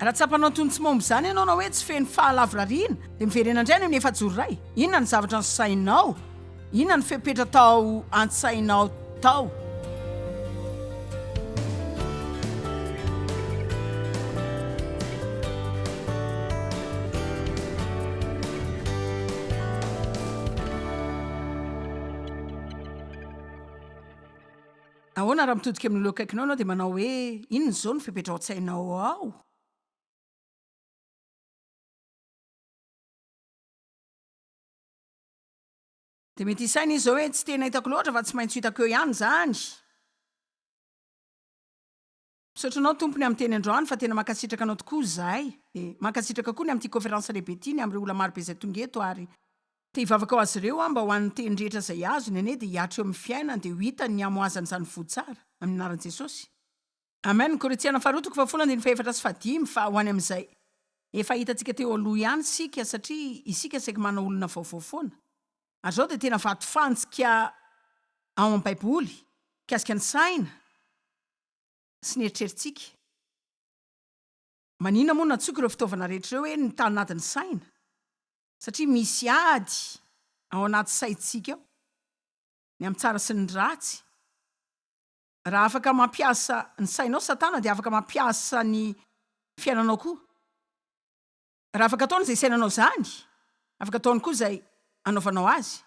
Raha tsapanao toy ny tsy momba izany ianao na hoe tsy feno fahalavorariana, dia miverena indray any amin'ny efajoro iray. Inona ny zavatra nosainao? Inona no fepetra tao an-tsainao tao? Ahoana raha mitodika amin'olona eo akaikinao ianao dia manao hoe, Inona izao no fepetra ao an-tsainao ao? Dia mety hisaina izy izao hoe, Tsy tena hitako loatra fa tsy maintsy ho hitako eo ihany izany. Misaotra anao tompony amin'ny teny androany fa tena mankasitraka anao tokoa izahay dia mankasitraka koa ny amin'ity conférence lehibe ity ny amin'ireo olona marobe izay tonga eto ary te hivavaka ho azy ireo aho mba ho an'ny teny rehetra izay azony anie dia hiatra eo amin'ny fiainany dia ho hitany ny hamohazany izany voa tsara amin'ny anaran'i Jesosy. Amen, ny Korintiana faharoa toko fahafolo andininy fahefatra sy fahadimy fa ho any amin'izay efa hitantsika teo aloha ihany isika satria isika saiky manao olona vaovao foana ary izao dia tena vatofantsika ao amin'ny baiboly mikasika ny saina sy ny eritreritsika. Maninona moa no nantsoiko ireo fitaovana rehetra ireo hoe ny tanadin'ny saina? Satria misy ady ao anaty saintsika ao, ny amin'ny tsara sy ny ratsy. Raha afaka mampiasa ny sainao Satana dia afaka mampiasa ny fiainanao koa. Raha afaka ataony izay isainanao izany, afaka ataony koa izay anaovanao azy.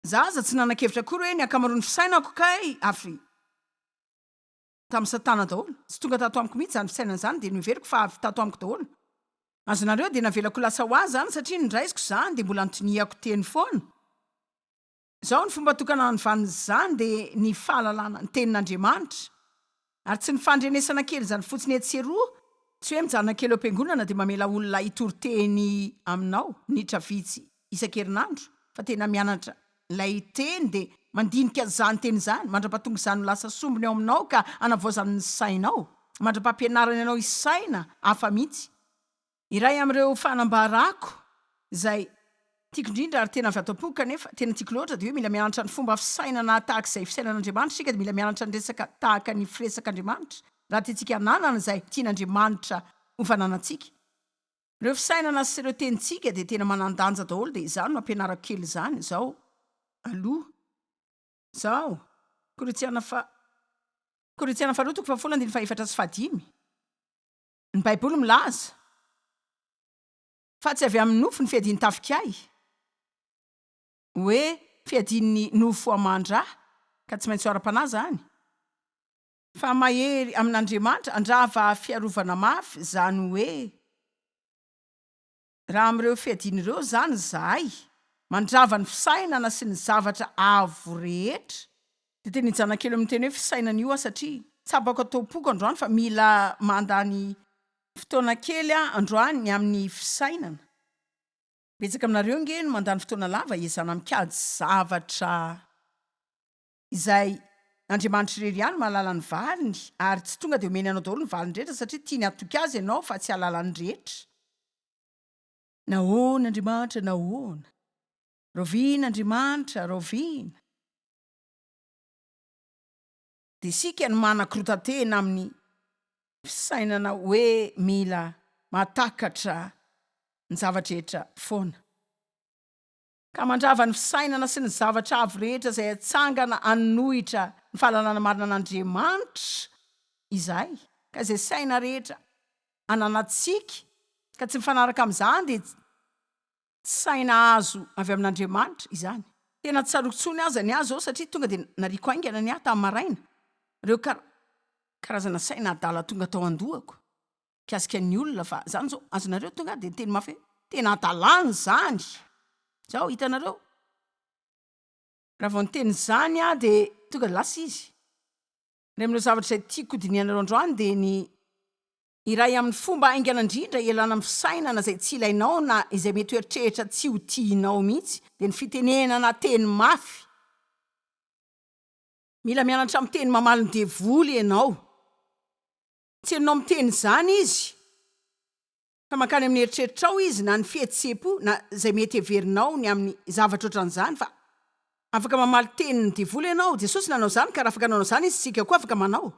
Za aza tsy nanakevitra akory hoe ny akamaroan'ny fisainako kay avy tamin'i satana daholo. Tsy tonga tato amiko mihitsy izany fisainana izany dia noheveriko fa avy tato amiko daholo. Azonareo dia navelako lasa ho azy izany satria nindraisiko izany dia mbola nitoniako teny foana. Izao ny fomba tokana hanovan'izany dia ny fahalalana ny tenin'Andriamanitra. Ary tsy ny fandrenesana kely izany fotsiny etsy sy eroa, tsy hoe mijanona kely eo am-piangonana dia mamela olona hitory teny aminao minitra vitsy isan-kerinandro, fa tena mianatra ilay teny dia mandinika izany teny izany, mandra-pahatonga izany ho lasa sombiny ao aminao ka hanavaozany ny sainao, mandra-pahampianarany anao hisaina hafa mihitsy. Iray amin'ireo fanambarako izay tiako indrindra ary tena avy ato am-poko kanefa tena tiako loatra dia hoe mila mianatra ny fomba fisainana tahaka izay fisainan'Andriamanitra isika dia mila mianatra ny resaka tahaka ny firesak'Andriamanitra raha tiantsika hananana izay tian'Andriamanitra ho fananantsika. Ireo fisainana sy ireo tenintsika dia tena manan-danja daholo dia izany no ampianarako kely izany izao aloha. Izao. Korintiana faha. Korintiana faharoa toko faha folo andininy faha efatra sy faha dimy. Ny Baiboly milaza fa tsy avy amin'ny nofo ny fiadian'ny tafikay, hoe fiadian'ny nofo aman-dra, ka tsy maintsy ho ara-panahy izany, fa mahery amin'Andriamanitra handrava fiarovana mafy, izany hoe. Raha amin'ireo fiadiana ireo izany izahay, mandrava ny fisainana sy ny zavatra avo rehetra, dia tena i Janakely no miteny hoe fisainana io aho satria tsapako ato am-poko androany fa mila mandany fotoana kely aho androany ny amin'ny fisainana, betsaka aminareo ange no mandany fotoana lava hiezana mikajy zavatra. izay Andriamanitra irery ihany mahalala ny valiny ary tsy tonga dia omeny anao daholo ny valiny rehetra satria tiany hatoky azy ianao fa tsy hahalala ny rehetra. Nahoana Andriamanitra nahoana. Rahoviana Andriamanitra rahoviana. Dia isika no manakorotan-tena amin'ny fisainana hoe mila mahatakatra ny zava-drehetra foana. ka mandrava ny fisainana sy ny zavatra avo rehetra izay atsangana hanohitra ny fahalalana marina an'Andriamanitra izahay, ka izay saina rehetra ananantsika ka tsy mifanaraka amin'izany dia tsy saina azo avy amin'Andriamanitra izany. Tena tsy tsaroako intsony aza ny ahy izao satria tonga dia nariako haingana ny ahy tamin'ny maraina, ireo karazana saina adala tonga tao an-dohako. mikasika ny olona fa zany zao azonareo tonga de miteny mafy hoe tena adalany zany zao hitanareo raha vao niteny zany aho de tonga lasa izy ry amin'ireo zavatra izay tiako hodinihanareo androany de ny iray amin'ny fomba haingana indrindra hialana amin'ny fisainana izay tsy ilainao na izay mety hoeritrehitra tsy ho tianao mihitsy de ny fitenenana teny mafy mila mianatra miteny mamaly ny devoly ianao Tsy hainao miteny izany izy, fa mankany amin'ny eritreritrao izy, na ny fihetseham-po, na izay mety heverinao ny amin'ny zavatra ohatran'izany, fa afaka mamaly tenin'ny devoly ianao. Jesosy nanao izany, ka raha afaka nanao izany Izy, isika koa afaka manao.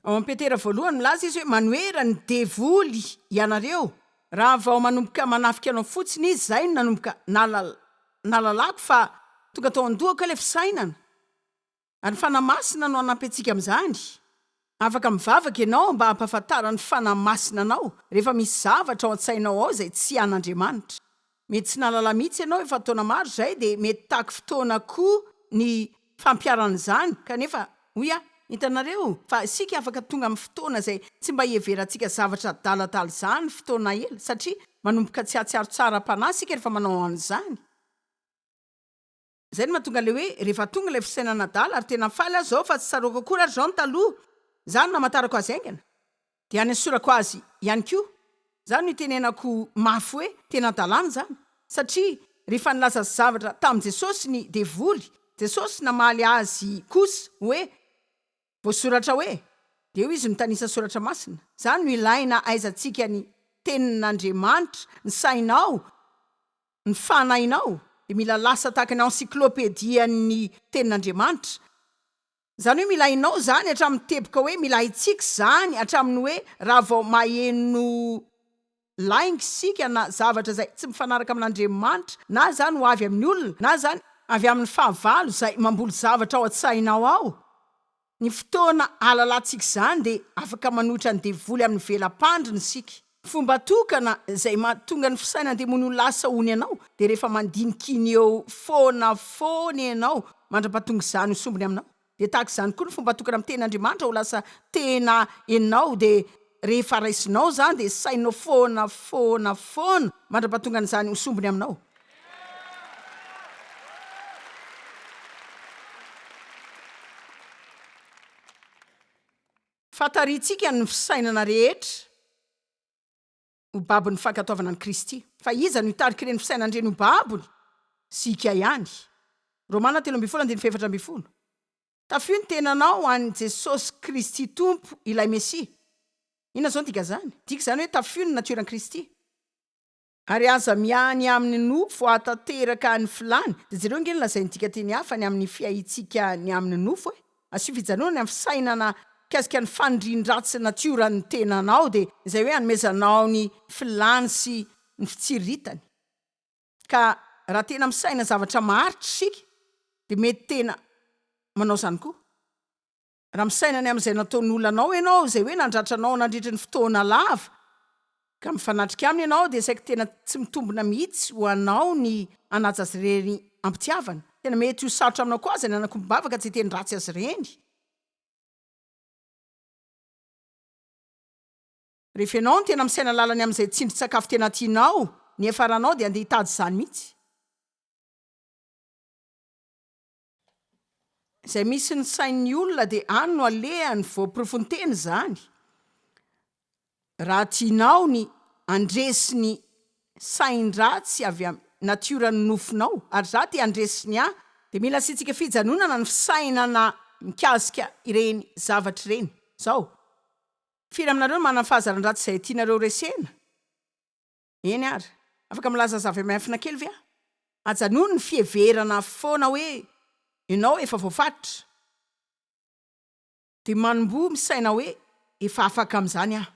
Ao amin'ny Petera voalohany, milaza Izy hoe, Manohera ny devoly ianareo. Raha vao manomboka manafika anao fotsiny izy, izay no nanomboka nalalako, fa tonga tao an-dohako ilay fisainana. Ary ny Fanahy Masina no hanampy antsika amin'izany. Afaka mivavaka ianao mba hampahafantaran'ny Fanahy Masina anao rehefa misy zavatra ao an-tsainao ao izay tsy an'Andriamanitra. Mety tsy nahalala mihitsy ianao efa taona maro izay dia mety taky fotoana koa ny fampiharana izany kanefa hoy aho, hitanareo fa isika afaka tonga amin'ny fotoana izay tsy mba hiheverantsika zavatra adaladala izany fotoana ela satria manomboka tsy hahatsiaro tsara am-panahy isika rehefa manao an'izany. Zay no mahatonga le hoe rehefa tonga ilay fisainana adala ary tena faly aza aho fa tsy tsaroako akory ary zao ny taloha za no namatarako azy haingana de hanesorako azy ihany koa za no itenenako mafy hoe tena adalana zany satria rehefa nilaza zavatra tamin'i Jesosy ny devoly Jesosy namaly azy kosa hoe Voasoratra hoe, Dia hoy izy mitanisa soratra masina, Izany no ilaina ahaizantsika ny Tenin'Andriamanitra, ny sainao, ny fanahinao dia mila lasa tahaka ny encyclopedian'ny Tenin'Andriamanitra. Izany hoe mila hainao izany hatramin'ny teboka hoe mila haintsika izany hatramin'ny hoe raha vao maheno lainga isika na zavatra izay tsy mifanaraka amin'Andriamanitra, na izany ho avy amin'ny olona, na izany avy amin'ny fahavalo izay mamboly zavatra ao an-tsainao ao. Ny fotoana ahalalantsika izany dia afaka manohitra ny devoly amin'ny vela-pandriny isika. Ny fomba tokana izay mahatonga ny fisainan-demony ho lasa ony anao dia rehefa mandinika iny eo foana foana ianao mandra-pahatonga izany ho sombiny aminao. Dia tahaka izany koa ny fomba atokana amin'ny teny Andriamanitra ho lasa tena enao dia rehefa raisinao izany dia sahinao foana foana foana mandra-pahatonga an'izany ho sombiny aminao. Fa tarihintsika ny fisainana rehetra. ho babon'ny fankatoavana an'i Kristy. Fa iza no hitarika ireny fisainana ireny ho babony? Isika ihany. Romana telo ambin'ny folo andininy fahefatra ambin'ny folo. Tafio ny tenanao an'i Jesosy Kristy Tompo, ilay Mesia. Inona izao no dikan'izany? Midika izany hoe tafio ny natioran'i Kristy. Ary aza miany amin'ny nofo hahatanteraka ny filany, dia jereo ange ny lazain'ny dikanteny hafa ny amin'ny fiahiantsika ny amin'ny nofo e! Asio fijanona ny fisainana mikasika ny fanirian-dratsy natioran'ny tenanao dia izay hoe anomezanao ny filany sy ny fitsiriritany. Ka raha tena misaina zavatra maharitra isika dia mety tena manao izany koa. Raha misaina ny amin'izay nataon'olona anao ianao izay hoe nandratra anao nandritry ny fotoana lava ka mifanatrika aminy ianao dia saiky tena tsy mitombina mihitsy ho anao ny hanaja azy ireny am-pitiavana. Tena mety ho sarotra aminao koa aza ny hanakombam-bavaka tsy hiteny ratsy azy ireny. Rehefa ianao no tena misaina lalany amin'izay tsindrin-tsakafo tena tianao, ny hiafaranao dia handeha hitady izany mihitsy. Izay misy ny sain'ny olona dia any no alehany voaporofon-tena izany. Raha tianao ny handresy ny sain-dratsy avy amin'ny natioran'ny nofinao, ary izaho te handresy ny ahy, dia mila asiantsika fijanonana ny fisainana mikasika ireny zavatra ireny izao, Firy aminareo no manana fahazaran-dratsy izay tianareo resena? Eny ary, afaka milaza zava-miafina kely ve aho? Ajanony ny fiheverana foana hoe ianao efa voafatotra, dia manomboha misaina hoe, Efa afaka amin'izany aho.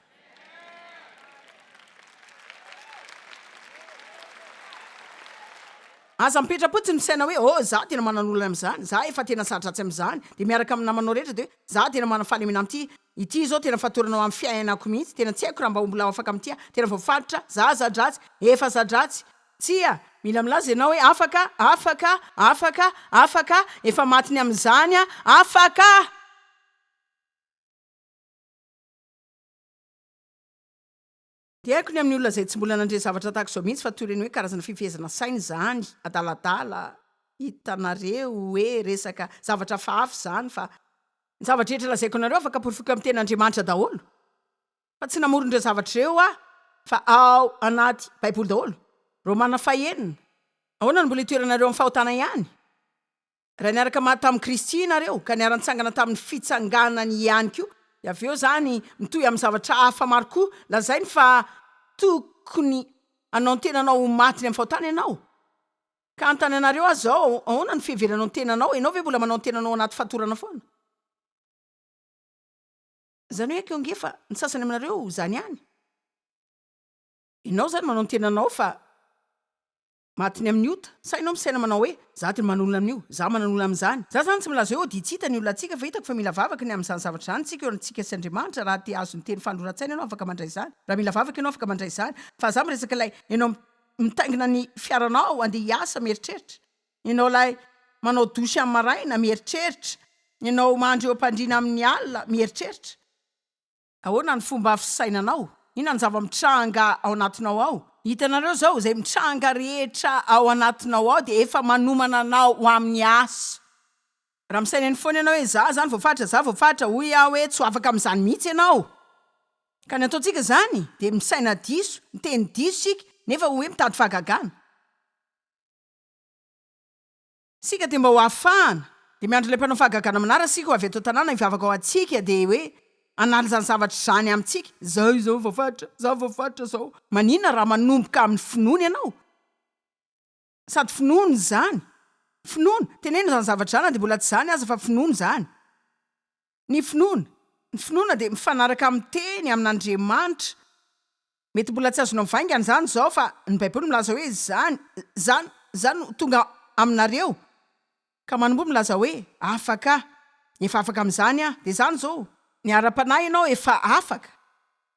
Aza mipetra-potsiny misaina hoe, Oh, izaho tena manana olana amin'izany, izaho efa tena sa-dratsy amin'izany. Dia miaraka amin'ny namanao rehetra dia hoe, Izaho tena manana fahalemena amin'ity Ity izao tena fatorana ho amin'ny fiainako mihitsy, tena tsy haiko raha mba ho mbola afaka amin'ity aho, tena voafaritra, za za-dratsy, efa za-dratsy, tsia, mila milaza ianao hoe afaka, afaka, afaka, afaka, efa maty ny amin'izany aho, afaka! Dia haiko ny amin'ny olona izay tsy mbola nandre zavatra tahaka izao mihitsy fa toy ireny hoe karazana fifehezana saina izany adaladala, hitanareo hoe resaka zavatra hafahafa izany fa. Ny zavatra rehetra lazaiko anareo afaka porofoiko amin'ny tena Andriamanitra daholo fa tsy namory ireo zavatra ireo aho fa ao anaty baiboly daholo. Romana fahenina. Ahoana no mbola itoeranareo amin'ny fahotana ihany? Raha niaraka maty tamin'i Kristy ianareo, ka niara-nitsangana tamin'ny fitsanganany ihany koa, dia avy eo izany mitohy amin'ny zavatra hafa maro koa lazainy fa tokony hanao ny tenanao ho maty ny amin'ny fahotana ianao. Ka hanontany anareo aza aho, Ahoana no fiheveranao ny tenanao? Ianao ve mbola manao ny tenanao anaty fatorana foana? Izany hoe koa ange fa ny sasany aminareo izany ihany. Ianao izany manao ny tenanao fa Matiny amin'ny ota. Sa ianao misaina manao hoe, za dia manolona amin'io, za manan'olona amin'izany. Za zany tsy milaza hoe ody tsy hita ny olonantsika fa hitako fa mila vavaka ny amin'izany zavatra izany isika eo antsika sy Andriamanitra raha te hahazo ny teny fanoran-tsaina ianao afaka mandray izany, raha mila vavaka ianao afaka mandray izany fa za miresaka ilay ianao mitaingina ny fiaranao andeha hiasa mieritreritra, ianao ilay manao douche amin'ny maraina mieritreritra, ianao mandry eo am-pandriana amin'ny alina mieritreritra. Ahoana ny fomba fisainanao? Inona ny zava-mitranga ao anatinao ao? Hitanareo izao, izay mitranga rehetra ao anatinao ao dia efa manomana anao ho amin'ny asa. Raha misaina eny foana ianao hoe, Izaho izany voafaritra, izaho voafaritra, hoy aho hoe, tsy ho afaka amin'izany mihitsy ianao. Ka ny ataontsika izany dia misaina diso, miteny diso isika, nefa hoe mitady fahagagana. Isika dia mba ho afahana, dia miandry ilay mpanao fahagagana manara isika ho avy ato an-tanàna hivavaka ho antsika dia hoe hanala izany zavatra izany amintsika, izaho izao vao faritra, izaho vao faritra izao. Maninona raha manomboka amin'ny finoana ianao? Sady finoana izany. Finoana. Teneno izany zavatra izany na dia mbola tsy izany aza fa finoana izany. Ny finoana, ny finoana dia mifanaraka amin'ny teny, amin'Andriamanitra. Mety mbola tsy azonao vaingana izany izao fa ny baiboly milaza hoe izany, izany, izany no tonga aminareo. Ka manmbo milaza hoe afaka, efa afaka amin'izany aho, dia izany izao, ny ara-panahy ianao efa afaka,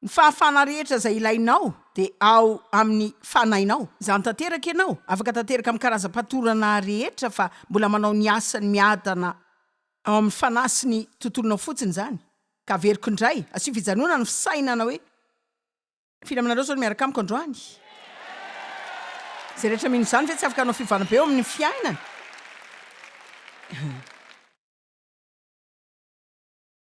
ny fahafahana rehetra izay ilainao dia ao amin'ny fanahinao, izany tanteraka ianao, afaka tanteraka amin'ny karazam-patorana rehetra fa mbola manao ny asany miadana. ao amin'ny fanahy sy ny tontolonao fotsiny izany, ka averiko indray, asio fijanonana ny fisainana hoe, firy aminareo izao no miaraka amiko androany? Izay rehetra mino izany ve tsy afaka hanao fiovana be eo amin'ny fiainany?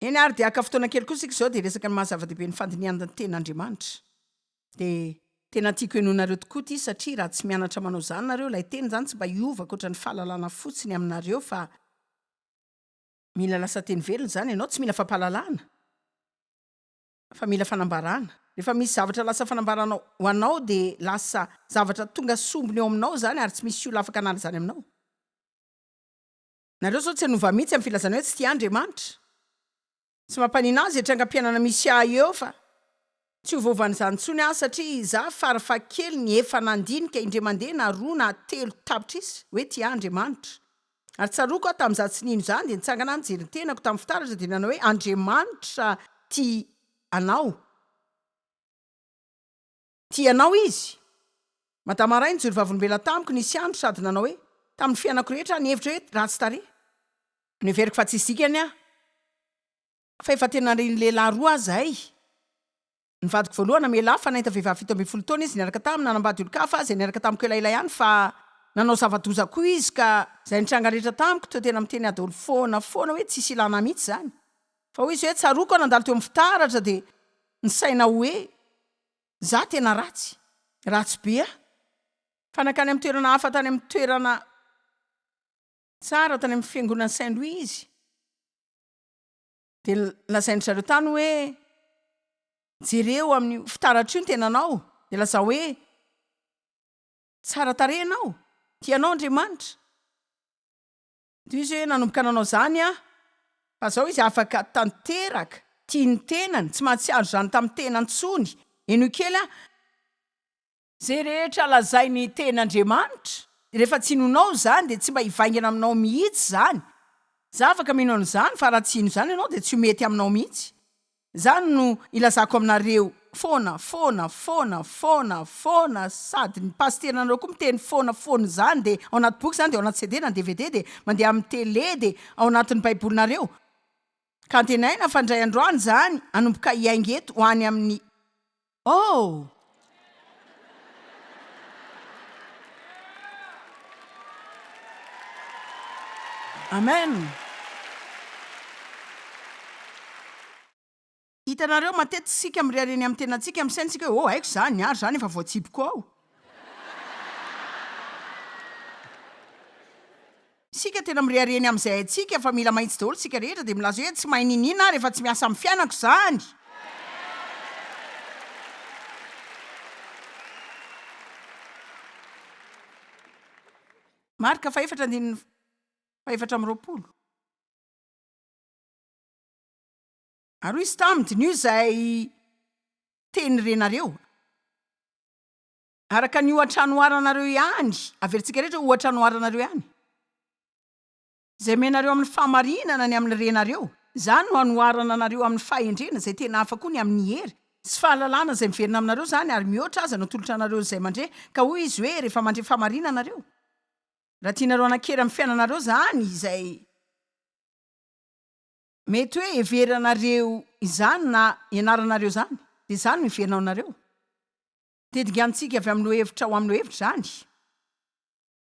Eny ary dia haka fotoana kely koa isika izao dia hiresaka ny maha-zava-dehibe ny fandinihan-tenan' Andriamanitra. dia Tena tiako henoinareo tokoa ity satria raha tsy mianatra manao izany nareo ilay teny izany tsy mba hiova ankoatra ny fahalalana fotsiny aminareo fa mila lasa teny velona izany ianao tsy mila fampahalalana fa mila fanambarana rehefa misy zavatra lasa fanambarana ho anao dia lasa zavatra tonga sombiny eo aminao izany ary tsy misy olona afaka hanala izany aminao Nareo zao tsy hanova mihitsy am filazana hoe tsy tia Andriamanitra. Tsy mampanino azy e trangam-piainana misy ahy eo fa tsy ho voaovan'izany intsony aho satria za farafahakeliny efa nandinika indray mandeha na roa na telo tapitrisa hoe tia ahy Andriamanitra. Ary tsaroako aho tam za tsy nino izany dia nitsangana aho nijery ny tenako tam fitaratra dia nanao hoe Andriamanitra tia anao. Tia anao izy. Madama iray nijoro vavolombelona tamiko nisy andro sady nanao hoe, Tamin'ny fiainako rehetra aho nihevitra hoe ratsy tarehy. Noheveriko fa tsisy dikany aho. Fa efa tena ry ny lehilahy roa aho izay. Ny vadiko voalohany namela ahy fa nahita vehivavy fito ambin'ny folo taona izy niaraka taminy, nanambady olon-kafa izay niaraka tamiko elaela ihany fa nanao zava-doza koa izy ka izay nitranga rehetra tamiko teo tena miteny adaoly foana foana hoe tsisy ilana ahy mihitsy izany. Fa hoy izy hoe tsaroako aho nandalo teo amin'ny fitaratra dia nisaina hoe. Za tena ratsy, ratsy be aho fa nankany amin'ny toerana hafa tany amin'ny toerana tsara tany amin'ny fiangonan'i Saint Louis izy dia lazain-dry zareo tany hoe jereo amin'io fitaratra io ny tenanao dia lazao hoe tsara tarehy ianao, tianao Andriamanitra. Tohizo hoe nanomboka nanao izany aho, fa izao izy afaka tanteraka, tia ny tenany, tsy mahatsiaro izany tamin'ny tena intsony. Henoy kely aho. Izay rehetra lazain'ny tenin'Andriamanitra, rehefa tsy hinonao izany dia tsy mba hivaingana aminao mihitsy izany. Izaho afaka mino an'izany, fa raha tsy hino izany ianao dia tsy ho mety aminao mihitsy. Izany no ilazako aminareo foana, foana, foana, foana, foana, sady ny pasiteranareo koa miteny foana, foana izany dia ao anaty boky izany dia ao anaty CD na dvd dia mandeha amin'ny tele dia ao anatin'ny baibolinareo ka antenaina fa indray andro any izany hanomboka hiainga eto ho any amin'ny Oh! Amen! Hitanareo, matetika isika mirehareha eny amin'ny tenantsika, amin'ny saintsika hoe, Oh, haiko izany, ary izany efa voatsipiko ao. Isika tena mirehareha ny amin'izay haintsika fa mila mahitsy daholo isika rehetra dia milaza hoe tsy mahay niniana aho rehefa tsy miasa amin'ny fiainako izany. Marka fahefatra andininy fahefatra amby roapolo. Ary hoy izy taminy, Diniho izay teny renareo. Araka ny ohatra anoharanareo ihany, averintsika rehetra ohatra anoharanareo ihany, izay omenareo amin'ny fahamarinana ny amin'ny renareo, izany no anoharana anareo amin'ny fahendrena, izay tena hafa koa ny amin'ny hery sy fahalalana izay miverina aminareo izany, ary mihoatra aza ny atolotra anareo izay mandre, ka hoy izy hoe, rehefa mandre fahamarinana nareo, raha tianareo hanan-kery amin'ny fiainanareo izany, izay mety hoe heveranareo izany na ianaranareo izany, dia izany no hiverina ao anareo. Tediga amintsika avy amin'ny lohevitra ho amin'ny lohevitra izany.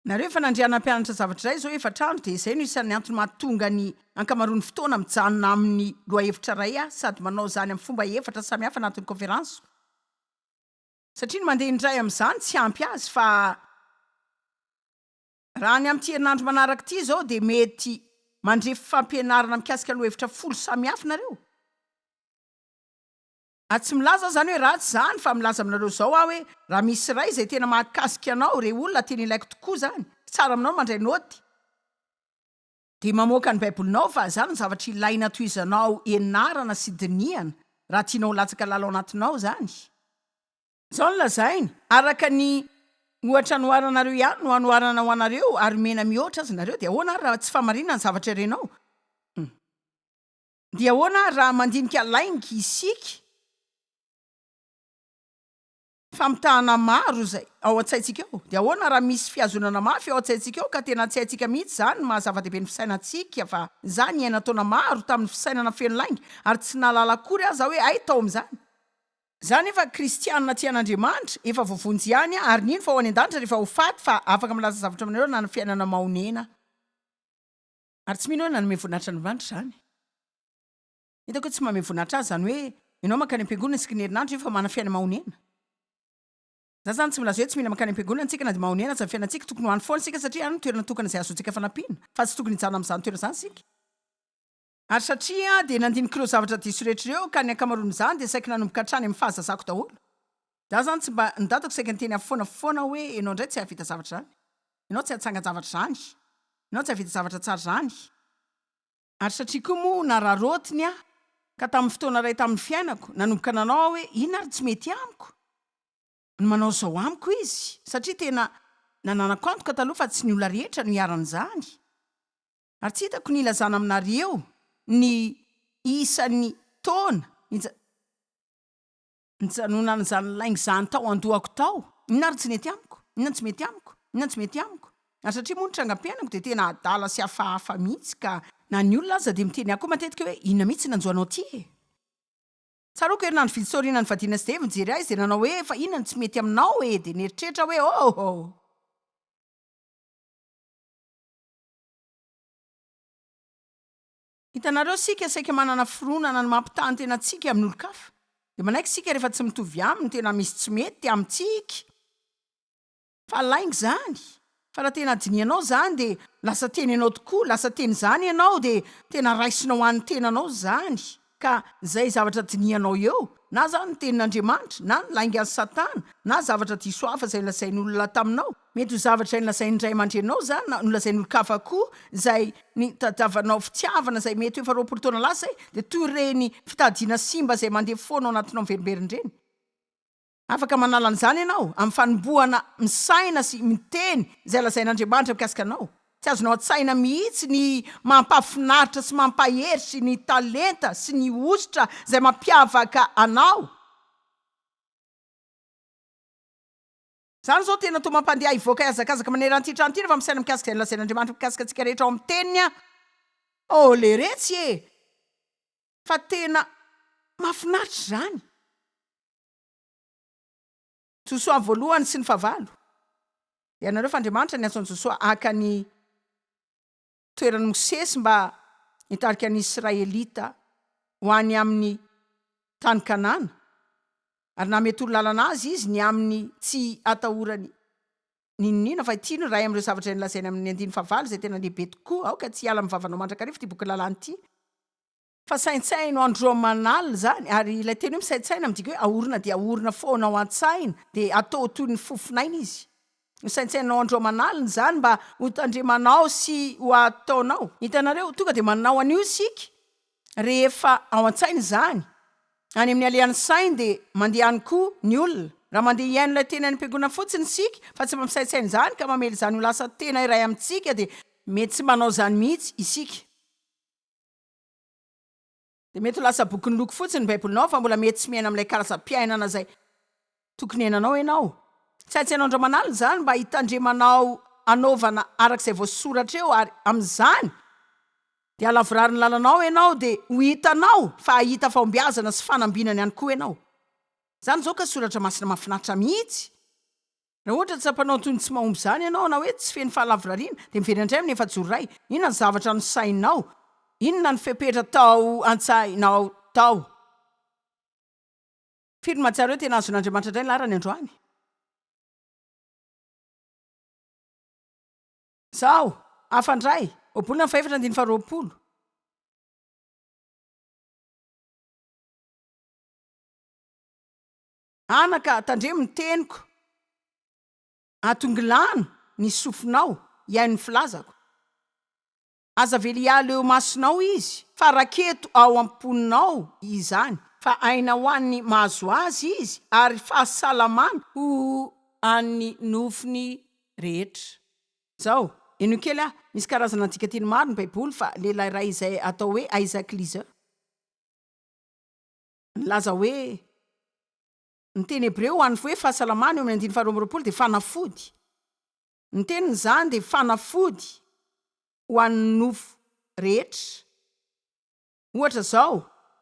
Nareo efa nandria nampianatra zavatra iray izao efatra andro dia izay no isan'ny antony mahatonga ny ankamaroan'ny fotoana mijanona amin'ny lohahevitra iray aho sady manao izany amin'ny fomba efatra samihafa anatin'ny kôferansiko satria ny mandeha indray amin'izany tsy ampy azy fa raha ny amin'ity herinandro manaraka ity izao dia mety mandre fampianarana mikasika lohahevitra folo samihafa nareo. Ary tsy milaza aho izany hoe ratsy izany fa milaza aminareo izao aho hoe raha misy iray izay tena mahakasika anao, irey olona tena ilaiko tokoa izany, tsy tsara aminao ny mandray naoty, dia mamoaka ny Baibolinao fa izany no zavatra ilaina tohizanao ianarana sy dinihana raha tianao ho latsaka lalao anatinao izany. Izao no lazainy, Araka ny ohatra anoharanareo ihany no anoharana ho anareo ary omena mihoatra aza nareo, dia ahoana ary raha tsy fahamarinana ny zavatra irenao? Hum. Dia ahoana ary raha mandinika lainga isika? Famitahana maro izay ao an-tsaintsika ao. Dia ahoana raha misy fihazonana mafy ao an-tsaintsika ao ka tena tsy haintsika mihitsy izany ny maha-zava-dehibe ny fisainantsika fa izaho niaina taona maro tamin'ny fisainana feno lainga ary tsy nahalala akory aho izaho hoe hay tao amin'izany izaho nefa kristianina tia an'Andriamanitra, efa voavonjy ihany aho ary nino fa ho any an-danitra rehefa ho faty fa afaka milaza zavatra aminareo nanana fiainana mahonena aho. Ary tsy mino hoe nanome voninahitra an'Andriamanitra izany. Hitako hoe tsy manome voninahitra Azy izany hoe ianao mankany am-piangonana isaky ny herinandro nefa manana fiainana mahonena. Izaho izany tsy milaza hoe tsy mila mankany am-piangonana isika na dia mahonena aza ny fiainantsika, tokony ho any foana isika satria any no toerana tokana izay ahazoantsika fanampiana, fa tsy tokony hijanona amin'izany toerana izany isika. Ary satria Aho dia nandinik'ireo zavatra diso rehetra ireo, ka ny ankamaroan'izany dia saiky nanomboka hatrany amin'ny fahazazako daholo. Za zany tsy mba nidadako saika niteny aho foana foana hoe enao ndray tsy hahavita zavatra zany, enao tsy hatsangan-javatra zany, enao tsy hahavita zavatra tsara zany. Ary satria koa moa nararaotiny aho ka tamin'ny fotoana iray tamin'ny fiainako nanomboka nanao aho hoe inona ary tsy mety amiko ny manao zao amiko izy satria tena nananako antoka taloha fa tsy ny olona rehetra no iharan'izany ary tsy hitako ny ilazana aminareo ny isan'ny taona Nijanonan'izany lainga izany tao an-dohako tao. Inona ary tsy nety amiko? Inona no tsy mety amiko? Inona no tsy mety amiko? Ary satria moa ny trangam-piainako dia tena adala sy hafahafa mihitsy ka na ny olona aza dia miteny ahy koa matetika hoe inona mihitsy no nanjo anao aty e? Tsaroako herinandro vitsy tao aorianan'ny fadiana sy Dave nijery ahy izy dia nanao hoe fa inona no tsy mety aminao e? Dia nieritreritra aho hoe oh oh! Hitanareo, isika saika manana fironana ny mampitaha ny tenantsika amin' olon-kafa. Dia manaiky isika rehefa tsy mitovy aminy, tena misy tsy mety amintsika. Fa lainga izany. Fa raha tena dinihanao izany, dia lasa teny ianao tokoa, lasa teny izany ianao, dia tena raisinao ho an'ny tenanao izany. Ka izay zavatra dinihanao eo, na izany ny tenin' Andriamanitra, na ny laingan'i Satana, na zavatra diso hafa izay lazain'olona taminao, Mety ho zavatra nolazain'ny ray aman-dreninao izany na nolazain'olon-kafa koa izay nitadiavanao fitiavana izay mety ho efa roapolo taona lasa izay, dia toy ireny fitadidiana simba izay mandeha foana ao anatinao miverimberina ireny. Afaka manala an'izany ianao amin'ny fanombohana misaina sy miteny izay lazain'Andriamanitra mikasika anao. Tsy azonao an-tsaina mihitsy ny mampahafinaritra sy mampahery sy ny talenta sy ny hosotra izay mampiavaka anao. Izany izao tena toa mampandeha ahy hivoaka hihazakazaka maneran'ity trano ity rehefa misaina mikasika izay nolazain'Andriamanitra mikasika antsika rehetra ao amin'ny Teniny aho. Oh, leretsy e! Fa tena mahafinaritra izany! Josoa ny voalohany sy ny fahavalo. Ianareo fa Andriamanitra niantso an'i Josoa haka ny toeran'i Mosesy mba hitarika ny Israelita ho any amin'ny Tany Kanana, ary namehy torolalana azy izy ny amin'ny tsy atahorany n'inon'inona, fa ity no iray amin'ireo zavatra nolazainy amin'ny andininy fahavalo izay tena lehibe tokoa, Aoka tsy hiala amin'ny vavanao mandrakariva ity boky lalàna ity. Fa saintsaino andro aman'alina izany, ary ilay teny hoe misaintsaina midika hoe ahorina dia ahorina foana ao an-tsaina, dia atao toy ny fofon'aina izy. Hosaintsainao andro aman'alina izany mba hotandremanao sy ho ataonao. Hitanareo, tonga dia manao an'io isika rehefa ao an-tsaina izany. Any amin'ny alehan'ny saina dia mandeha any koa ny olona. Raha mandeha hihaino ilay teny any am-piangonana fotsiny isika, fa tsy mba misaintsaina izany ka mamela izany ho lasa tena iray amintsika, dia mety tsy manao izany mihitsy isika. dia mety ho lasa boky niloko fotsiny ny Baibolinao fa mbola mety tsy miaina amin'ilay karazam-piainana izay tokony hiainanao ianao. Tsy haintsy ianao indray manalina izany mba hitandremanao hanaovana araka izay voasoratra eo, ary amin'izany dia halavorarin'ny lalanao ianao, dia ho hitanao fa hahita fahombiazana sy fanambinana ihany koa ianao. Izany izao ka soratra masina mahafinaritra mihitsy! Raha ohatra tsapanao toy ny tsy mahomby izany ianao na hoe tsy feno fahalavorariana, dia miverina indray amin'ny efa-joro iray. Inona ny zavatra nosainao? Inona ny fepetra tao an-tsainao tao? Firy no mahatsiaro hoe tena azon'Andriamanitra indray ny laharany androany? Zao, hafa indray, Ohabolana fahefatra andininy faharoapolo. Anaka, tandremo ny teniko. Atongilano ny sofinao, hihaino ny filazako. Aza avela hiala eo imasonao izy, fa raketo ao am-ponao izany, fa aina ho an'ny mahazo azy izy, ary fahasalamana ho an'ny nofony rehetra. Zao, henoy kely aho. Misy karazana andikanteny maro ny Baiboly, fa lehilahy iray izay atao hoe Isaac Leeser. Nilaza hoe, Ny teny hebreo ho an'ny hoe fahasalamana eo amin'ny andininy faharoa amby roapolo dia fanafody. Ny teniny izany dia fanafody ho an'ny nofo rehetra. Ohatra izao,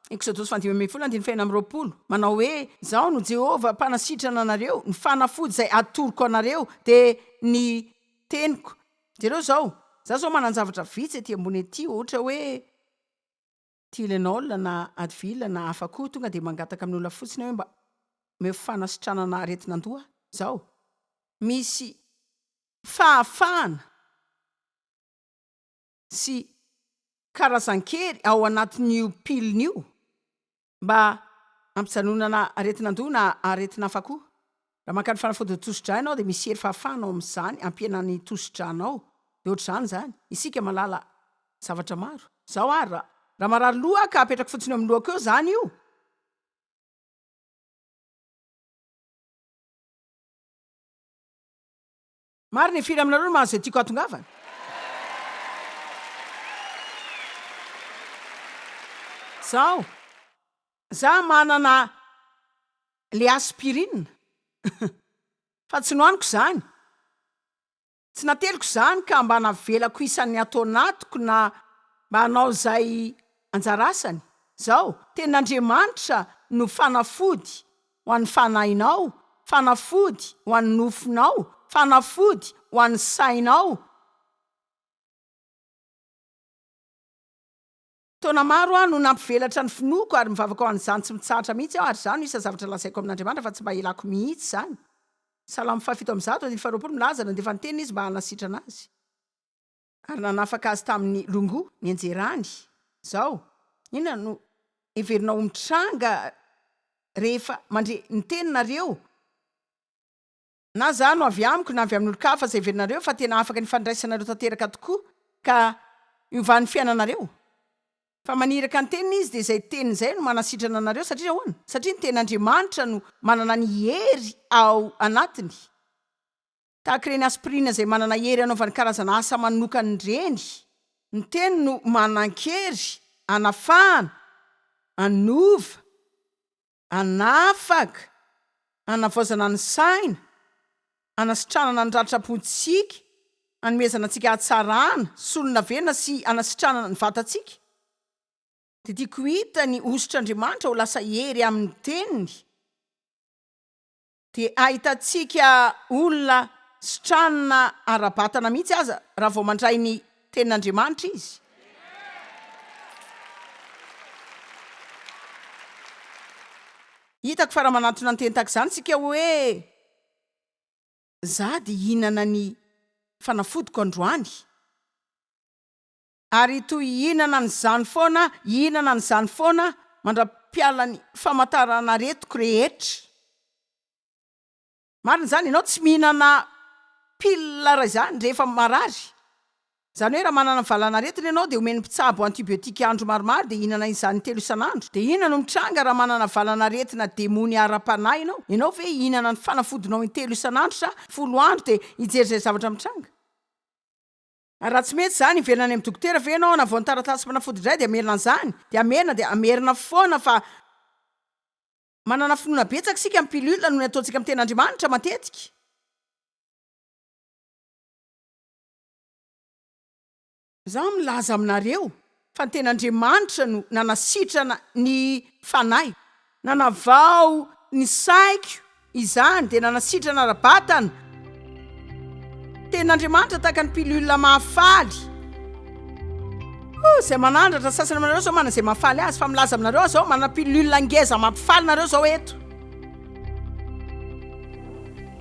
Eksodosy faha dimy ambin'ny folo andininy fahenina amby roapolo, manao hoe, Izaho no Jehovah mpanasitrana anareo, ny fanafody izay atoroko anareo dia ny teniko. Jereo izao, Izaho izao manan-javatra vitsy ety ambony ety, ohatra hoe, Tylenol na Advil na hafa koa tonga dia mangataka amin'ny olona fotsiny hoe mba omeo fanasitranana aretin'andoha izao. Misy fahafahana sy karazan-kery ao anatin'io pilina io mba hampijanonana aretin'andoha na aretina hafa koa. Raha maka ny fanafodin'ny tosidra ianao dia misy hery fahafahana ao amin'izany hampihenana ny tosidranao. Dia ohatr'izany izany. Isika mahalala zavatra maro. Izao ary, raha, raha marary loha aho ka apetrako fotsiny eo amin'ny lohako eo izany io, Marina e firy aminareo no mahazo izay tiako hatongavana? Zaho, za manana le aspirine fa tsy nohaniko izany, tsy nateliko izany ka mba navelako isan'ny ato anatiko na mba hanao izay anjara asany, zao, tenin'Andriamanitra no fanafody ho an'ny fanahinao, fanafody ho an'ny nofonao, fanafody ho an'ny sainao. Taona maro aho no nampivelatra ny finoako ary mivavaka ho an'izany tsy mitsahatra mihitsy aho ary izany no isan'ny zavatra lazaiko amin'Andriamanitra fa tsy mba hilako mihitsy izany. Salamo fahafito amby zato, andininy faharoapolo, milaza, Nandefa ny teniny Izy mba hanasitrana azy. ary nanafaka azy tamin'ny longo nianjerany izao, inona no heverinao ho mitranga rehefa mandre ny teninareo? Na za no avy amiko na avy amin'olon-kafa, izay heverinareo fa tena afaka ny fandraisanareo tanteraka tokoa ka hiovan'ny fiainanareo? Fa maniraka ny teniny izy, dia izay teniny izay no manasitrana anareo. Satria ahoana? Satria ny tenin'Andriamanitra no manana ny hery ao anatiny. Tahaka ireny aspirina izay manana hery hanaovany karazana asa manokany ireny, ny teny no manan-kery hanafahana, hanova, hanafaka, hanavaozana ny saina, hanasitranana ny ratram-pontsika, hanomezana antsika hatsarana, solonavenona sy hanasitranana ny vatantsika. Dia tiako ho hita ny hosotr'Andriamanitra ho lasa hery amin'ny teniny. dia ahitantsika olona sy tranona ara-batana mihitsy aza raha vao mandray ny Tenin'Andriamanitra izy. Hitako fa raha manantona ny teny tahaka izany isika hoe, Izaho dia hihinana ny fanafodiko androany, ary toy hihinana an'izany foana, hihinana an'izany foana mandra-piala ny famataran'aretiko rehetra. Marina izany, ianao tsy mihinana pile raha izany rehefa marary. Izany hoe raha manana valanaretina ianao dia omen'ny mpitsabo antibiotique andro maromaro dia hihinana izany intelo isan'andro. Dia inona no mitranga raha manana valanaretina demony ara-panahy ianao? Ianao ve hihinana ny fanafodinao intelo isan'andro sa folo andro dia hijery izay zavatra mitranga? Raha tsy mety izany hiverina any amin'ny dokotera ve ianao hanavoana taratasy fanafody indray dia hamerina an'izany? Dia hamerina dia hamerina foana fa manana finoana betsaka isika amin'ny pilule noho ny ataontsika amin'ny ten'Andriamanitra matetika. Izaho milaza aminareo Fa ny tena Andriamanitra no nanasitrana ny fanahy. Nanavao ny saiko izany dia nanasitrana ara-batana. Tena Andriamanitra tahaka ny pilule mahafaly. Oh, izay manandratra sasany aminareo izao manana izay mahafaly azy, fa milaza aminareo aho izao, manana pilule ngeza mampifaly nareo izao eto.